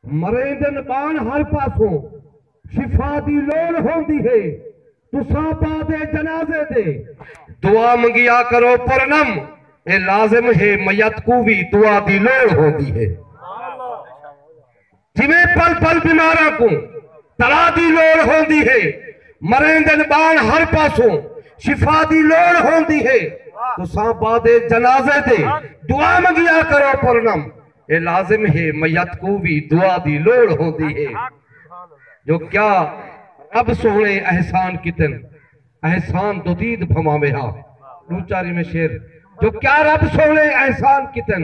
مریندن بان ہر پاسوں شفا دی لوڑ ہوندی ہے تساں بعد جنازے دے دعا منگیا کرو پرنم اے لازم ہے میت کوں وی دعا دی لوڑ ہوندی ہے جویں پل پل بیماراں کوں تڑا دی لوڑ ہوندی ہے مریندن بان ہر پاسوں شفا دی لوڑ ہوندی ہے تساں بعد جنازے دے دعا منگیا کرو پرنم اے لازم ہے میت کوں وی دعا دی لوڑ ہوندی ہے جو کیا رب سوہنے احسان کیتن احسان دودید بھماویں ہا ڈو چاری میں شعر جو کیا رب سوہنے احسان کیتن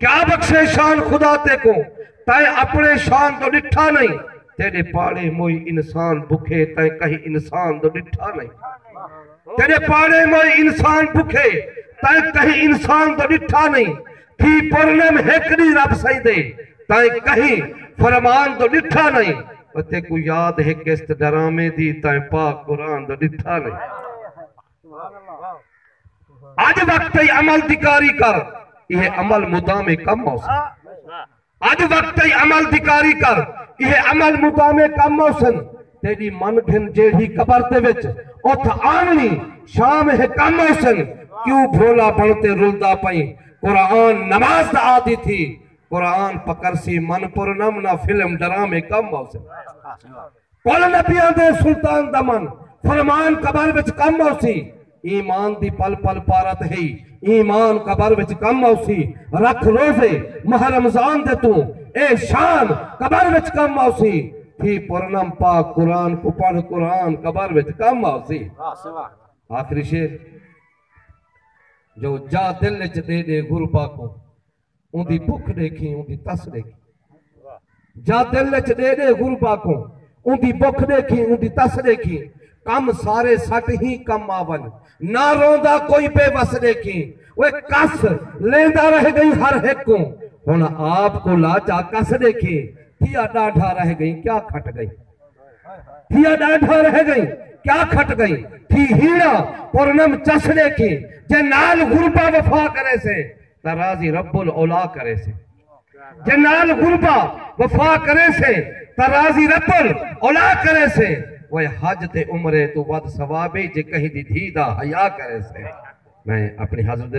کیا بخشے شان خدا تیکوں تیں اپنے شان دو ڈٹھا نئیں تیڈے پاڑے موئی انسان بکھے تیں کہیں انسان دو ڈٹھا نئیں تیڈے پاڑے موئی انسان بکھے تیں کہیں انسان دو ڈٹھا نئیں تھی پرنم ہک دی رب سائیں دے تیں کہیں فرمان دو ڈٹھا نئیں تیکوں یاد ہے قسط ڈرامے دی تیں پاک قرآن دو ڈٹھا نئیں۔ اج وقت ای عمل دی کاری کر ایہ عمل مدام کم موسن اج وقت ای عمل دی کاری کر ایہ عمل مدام کم موسن تیری من گھن جیڑھی قبر دے وچ اتھ آونی شام ہے کم موسن کیوں بھولا بنتے رلدا پئیں قرآن نماز دا آدھی تھی قرآن پکرسی من پرنم نہ فلم ڈرامے کم موسن کل نبیاں دے سلطان دمن فرمان قبر وچ کم آوسی ایمان دی پل پل پارت ہئی ایمان قبر وچ کم آوسی رکھ روزے ماہ رمضان دے توں اے شان قبر وچ کم آوسی تھی پرنم پاک قرآن کوں پڑھ قرآن قبر وچ کم آوسی آخری شعر جو جا دل وچ دے ڈے غربا کوں۔ اوندی بھک ݙیکھیں اوندی تس ݙیکھیں جا دل اچ ݙے ݙے غربا کوں اوندی بھک ݙیکھیں اوندی تس ݙیکھیں کم سارے سٹ ہی کم آون نہ روندا کوئی بے وس ݙیکھیں اوئے کس لیندا رہ ڳئیں ہر ہک کوں ہݨ آپ کوں لا جا کس ݙیکھیں تھیا ݙاڈھا رہ ڳئیں کیا کھٹ ڳئیں تھیا ݙاڈھا رہ ڳئیں کیا کھٹ ڳئیں تھی ہیڑا پرنم چس ݙیکھیں جے نال غربا وفا کریسے دا راضی رب العلا کریسے۔ جے نال غربا وفا کریسے تاں راضی رب العلا کریسے۔ وے حج تے عمرے توں ودھ ثواب اے جے کہیں دی دھی دا حیا کریسے۔ میں اپݨی حضرت دے۔